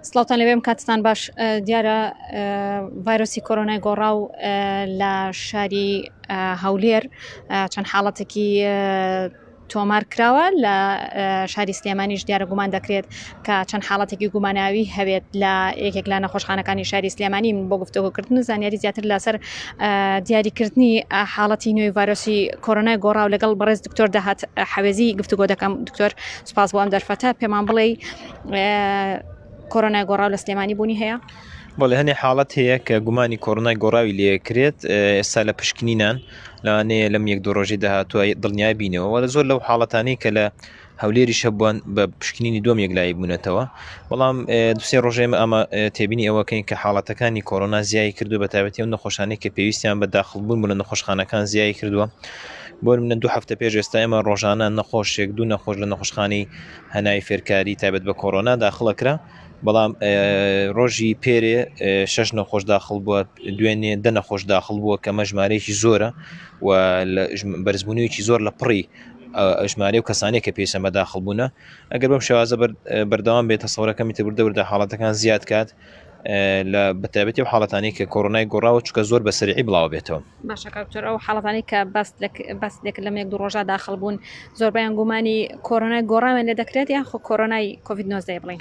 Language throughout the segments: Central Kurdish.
سڵاوان لەوێم کاتستان باش دیارە ڤایرۆسی کۆرۆنای گۆڕا و لە شاری هەولێر چەند حاڵەتێکی تۆمار کراوە لە شاری سلێمانیش دیارە گومان دەکرێت کە چەند حاڵەتێکی گوماناوی هەبێت لە یەکێک لە نەخۆشخانەکانی شاری سلێمانی من بۆ گفتوگوکردن و زانیاری زیاتر لەسەر دیاریکردنی حاڵەتی نوێی ڤایرۆسی کۆرۆنای گۆڕاو لەگەڵ بەڕێز دکتۆر داهات حەوێزی گفتوگۆ دەکەم دکتۆر سپاس بۆ ئەم دەرفەتە پێمان بڵێ کۆرۆنای گۆڕاو لە سلێمانی بوونی هەیە. بەڵێ هەنێ حاڵەت هەیە کە گومانی کۆرۆنای گۆڕاوی لێکرێت ئێستا لە پشکنینان لەوانەیە لەم یەک دو ڕۆژی داهاتوە دڵنیای بینەوە وەرە زۆر لەو حاڵەتانی کە لە هەولێریش هەبووان بە پشکنینی دووەم یەکلایی بوونەتەوە بەڵام دوسێ ڕۆژێ ئێمە ئەمە تێبینی ئەوەکەین کە حاڵەتەکانی کۆرۆنا زیای کردو بە تایبەتی ئەو نەخۆشانەی کە پێویستیان بە داخڵبوون بوون لە نەخۆشخانەکان زیای کردووە بۆ منە دوو هەفتە پێش ئێستا ئێمە ڕۆژانە نەخۆشێک دوو نەخۆش لە نەخۆشخانی هەنای فێرکاری تایبەت بە کۆرۆنا داخڵەکرا بەڵام ڕۆژی پێرێ شش نەخۆش داخل بووە دوێنێ دە نەخۆش داخل بووە کە مەژمارەیەکی زۆرە و بەرزبوونیویی زۆر لە پڕی ژمارەی و کەسانی کە پێشە مەداخڵ بوونە ئەگەر بەم شێوازە بەردەوام بێت تەسەورەکەمی تر بردە بردە حاڵەتەکان زیاد کات لە بەتابەتی و حاڵەتانی کە کۆرۆنای گۆڕاوە چکە زۆر بە سەرعی بڵاو بێتەوە باشەکەتر ئەو حاڵەتانی کە بەست بەست لێک لە مێک دو ڕۆژە داخل بوون زۆربیان گومانی کۆرۆنای گۆڕاوێن لێ دەکرێت یان خۆ کۆرۆنای کۆڤید 19 بڵین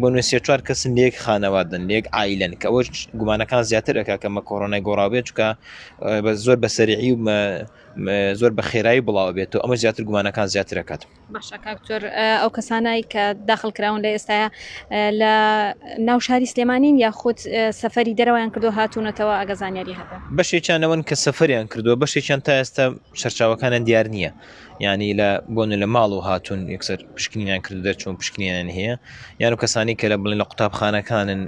بۆ نوێ سێ چوار کەسن لە یەک خانەوادەن لە یەک عیلەن کە ئەوش گومانەکان زیاتر ئەک کە مە کۆرۆنای گۆڕاوێت چکە بە زۆر بە سەرعی و زۆر بە خێرایی بڵاو بێت و ئەمە زیاتر گومانەکان زیاترەکات باشکتۆر ئەو کەسانایی کە داخل کراون لە ئێستاە لە ناو شاری سلێمانین یاخود سەفری دەرەوەیان کردو هاتوونەتەوە ئەگە زانیاری هەبێت بەشێکیانەوەن کە سەفریان کردووە بەشێکیان تا ئێستا سەرچاوەکانیان دیار نییە یعنی لە بۆن لە ماڵ و هاتوون یەکسەر پشکنینیان کرد دەرچوون پشکنیان هەیە یان و کەسانی کە لە بڵێن لە قوتابخانەکانن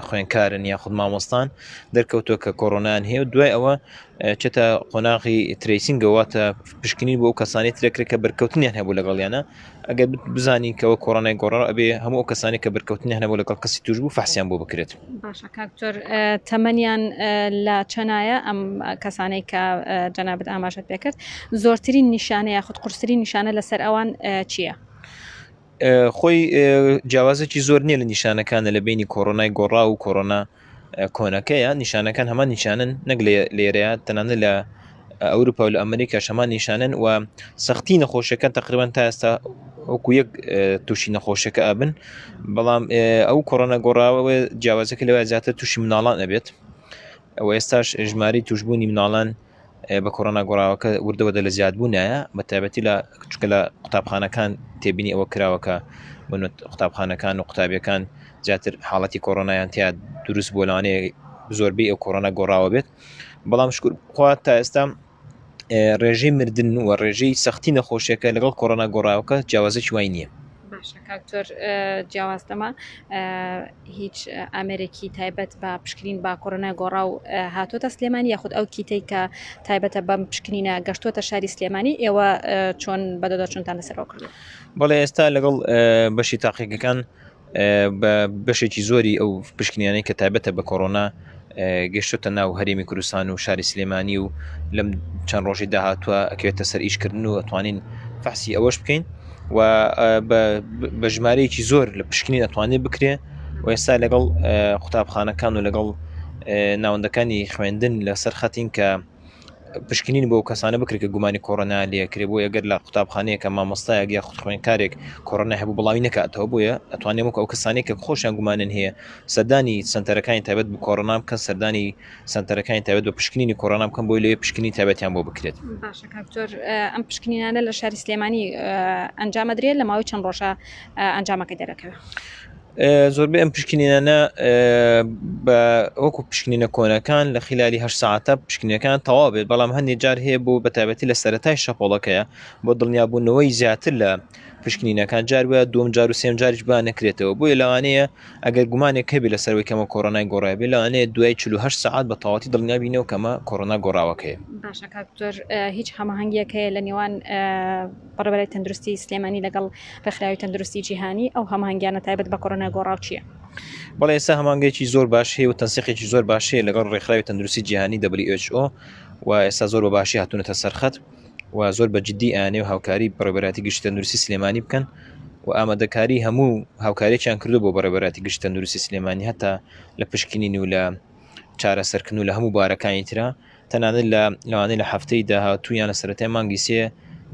خوێنکارن یا خود مامۆستان دەرکەوتووە کە کۆرۆنان هەیە و دوای ئەوە چێتە قۆناغی تریسینگەواتە پشکنین بۆ کەسانی ترەکرێت کە بەرکەوتنیان هەبوو لەگەڵیانە ئەگەر بزانین کەەوە کۆرۆنای گۆڕ ئەبێ هەموو ئەو کەسانی کە بەرکەوتنی هەنەبوو لەگەڵ کەسی توش بوو فحسیان بۆ بکرێت باشە کاکتۆر تەمەنیان لە چەنایە ئەم کەسانەی کە جەنابەت ئاماژەت پێکرد زۆرترین نیشانەیە خود قورسری نیشانە لەسەر ئەوان چییە؟ خۆی جیاوازێکی زۆر نییە لە نیشانەکانە لە بینی کۆرۆنای گۆڕا و کۆرۆنا کۆنەکەیە نیشانەکان هەمان نیشانن نەک لێرەیە تەنانە لە ئەوروپا و لە ئەمریکا شەمان نیشانن و سەختی نەخۆشەکان تقریبان تا ئێستا وەکو یەک تووشی نەخۆشەکە ئابن بەڵام ئەو کۆڕۆنە گۆڕاوە جیاوازەکە لەوە زیاتر تووشی مناڵان ئەبێت ئەو ئێستاش ژماری توشببوونی مناڵان بە کۆرۆنا گۆڕاوەکە وردەوەدە لە زیادبوونایە بە تایبەتی لە کچکە لە قوتابخانەکان تێبینی ئەوە کراوەکە بن قوتابخانەکان و قوتابیەکان زیاتر حاڵەتی کۆرۆنایان تیا دروست بۆ لەوانەیە زۆربەی ئەو کۆرۆنا گۆڕاوە بێت بەڵام شکر خوا تا ئێستا ڕێژەی مردن و ڕێژەی سەختی نەخۆشیەکە لەگەڵ کۆرۆنا گۆڕاوەکە جیاوازەکی وای نییە باشە کاک تۆر جیاواز لەمە هیچ ئامێرێکی تایبەت بە پشکنین با کۆرۆنای گۆڕا و هاتۆتە سلێمانی یاخود ئەو کیتەی کە تایبەتە بەم پشکنینە گەشتۆتە شاری سلێمانی ئێوە چۆن بەدەدا چونتان لەسەرەوە کرد بەڵێ ئێستا لەگەڵ بەشی تاقیقەکان بە بەشێکی زۆری ئەو پشکنیانەی کە تایبەتە بە کۆرۆنا گەشتۆتە ناو هەرێمی کوردستان و شاری سلێمانی و لەم چەند ڕۆژی داهاتوە ئەکرێتە سەر ئیشکردن و ئەتوانین فەحسی ئەوەش بکەین و بە ژمارەیەکی زۆر لە پشکنین ئەتوانێت بکرێ و ئێستا لەگەڵ قوتابخانەکان و لەگەڵ ناوەندەکانی خوێندن لەسەر خەتین کە پشکنین بۆ کەسانە بکرێت کە گومانی کۆرۆنا لەکرێ بۆ یەگەر لە قوتابخانەیەکە مامۆستایەک یا خود خوێنکارێک کۆرۆنا هەبوو بڵاوی نکاتەوە بۆیە ئەتوانێت وەک ئەو کەسانێک کە خۆشیان گومانن هەیە سەردانی سنتەرەکانی تابەت بە کۆرۆنا بکەن سەردانی سنتەرەکانی تابەت بە پشکنینی کۆرۆنا بکەن بۆی لێ پشکنی تابەتیان بۆ بکرێت ئەم پشکنینانە لە شاری سلێمانی ئەنجامەدرێت لە ماوەی چەند ڕۆژە ئەنجامەکە دەرەکەوێت. زۆربەی ئەم پشکنینانە بە وەکو پشکنینە کۆنەکان لە خلالی هە ساعتە پشکنینەکان تەوا بێت بەڵام هەندی جار هەیە بۆ بەتابەتی لە سەتای شەپۆڵەکەیە بۆ دڵنیابوونەوەی زیاتر لە پشکنینەکان جار وە دوم جار و سێم جاریش با نەکرێتەوە بۆیە لەوانەیە ئەگەر گومانێک هەبی لە سەرەوەی کەمە کۆرۆنای گۆڕایبێ لەوانەیە دوای 48 ساعت بە تەواتی دڵنیابینەوە کەمە کۆرۆنا گۆڕاوەکەی باشە کاکتۆر هیچ هەمەهنگیەکەیە لە نێوان بەڕێوەبەرای تەندروستی سلێمانی لەگەڵ ڕێکخراوی تەندروستی جیهانی ئەو هەماهەنگیانە تایبەت بە کۆرۆنا گۆڕاو چییە؟ بەڵێ ئێستا هەمانگەیەکی زۆر باش هەیە و تەنسیقێکی زۆر باش هەیە لەگەڵ ڕێکخراوی تەندروستی جیهانی WHO و ئێستا زۆر بە باشی هاتوونەتە سەرخەت و زۆر بە جددی ئاانێ و هاوکاری بەڕێبەراتی گشتی تەندروستی سلێمانی بکەن و ئامادەکاری هەموو هاوکارێکیان کردو بۆ بەڕێبەراتی گشت تەندروستی سلێمانی هەتا لە پشکنین و لە چارەسەرکردن و لە هەموو بارەکانی تررا تەنانەت لە لەوانەیە لە هەفتەی داهاتوو یان لە سەرەتای مانگی سێ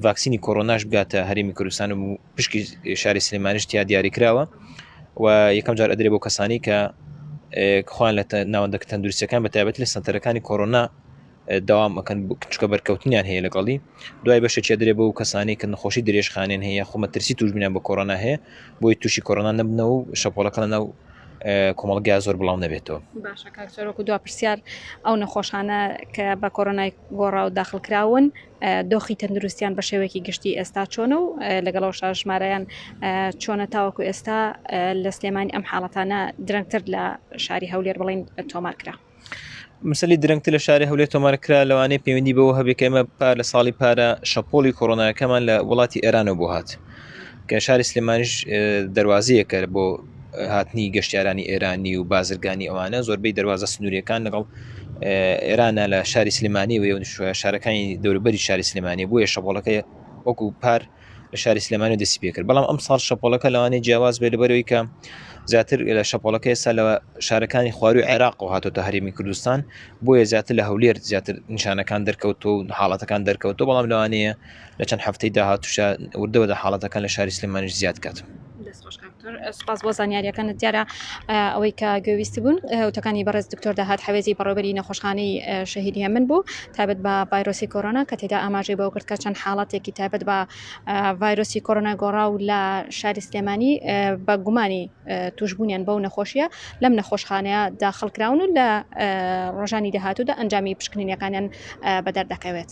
ڤاکسینی کۆرۆناش بگاتە هەرێمی کوردستان و پشکی شاری سلێمانیش تیا دیاری کراوە و یەکەم جار ئەدرێ بۆ کەسانی کە خۆیان لە ناوەندەکە تەندروستەکان بە تایبەت لە سنتەرەکانی کۆرۆنا داوام ئەەکەن چکە بەرکەوتنیان هەیە لەگەڵی دوای بەشێکی درێ بۆ و کەسانی کە نەخۆشی درێژخانێن هەیە خۆمە ترسی توشبیان بە کۆرۆنا هەیە بۆی تووشی کۆرۆنا نەبنەوە و شەپۆلەکە لە ناو کۆمەڵگا زۆر بڵاو نەبێتەوە باشە کاکسەرۆک و دو پرسیار ئەو نەخۆشانە کە بە کۆرۆنای گۆڕا و داخل کراون دۆخی تەندروستیان بە شێوەیەکی گشتی ئێستا چۆنە و لەگەڵەوە شاژمارەیان چۆنە تاوەکو ئێستا لە سلێمانی ئەم حاڵەتانە درەنگتر لە شاری هەولێر بڵین تۆمار کرا. مسلی درەنگتر لە شاری هەولێر تۆمارکرا لەوانەیە پەیوەندی بەوە هەبێت کە ئێمە پار لە ساڵی پارە شەپۆڵی کۆرۆناکەمان لە وڵاتی ئێرانەوە بۆ هات کە شاری سلێمانیش دەواازەیەکە بۆ هاتنی گەشتیارانی ئێرانی و بازرگانی ئەوانە زۆربەی دەواازە سنووریەکان لەگەڵ ئێرانە لە شاری سلمانی و شارەکانی دەوربەری شاری سلمانی بووە شەپۆڵەکەی وەکو پار لە شاری سلێمانی دەستی پێکرد بەڵام ئەم ساڵ شەپۆلەکە لەوانەیە جیاواز بێت لەبەرەوەی کە زیاتر لە شەپۆلەکە ئێستا لە شارەکانی خواروی عێراق و هاتۆتە هەرێمی کوردستان بۆیە زیاتر لە هەولێر زیاتر نیشانەکان دەرکەوتۆ و حاڵەتەکان دەرکەوتۆ بەڵام لەوانەیە لە چەند هەفتەی داهاتوشە وردەوە دە حاڵەتەکان لە شاری سلێمانش زیاد کات. دەست خۆش کاک دکتۆر سوپاس بۆ زانیارییەکانت دیارە ئەوەی کە گوێویست بوون وتەکانی بەڕێز دکتۆر داهات حەوێزی بەڕێوبەری نەخۆشخانەی شەهید هێمن بوو تابەت بە ڤایرۆسی کۆرۆنا کە تێدا ئاماژەی بەوە کرد کە چەند حاڵەتێکی تابەت بە ڤایرۆسی کۆرۆنا گۆڕا و لە شاری سلێمانی بە گومانی توشببوونیان بەو نەخۆشیە لەم نەخۆشخانەیە داخڵکراون و لە ڕۆژانی داهاتوودا ئەنجامی پشکنینەکانیان بەدەردەکەوێت.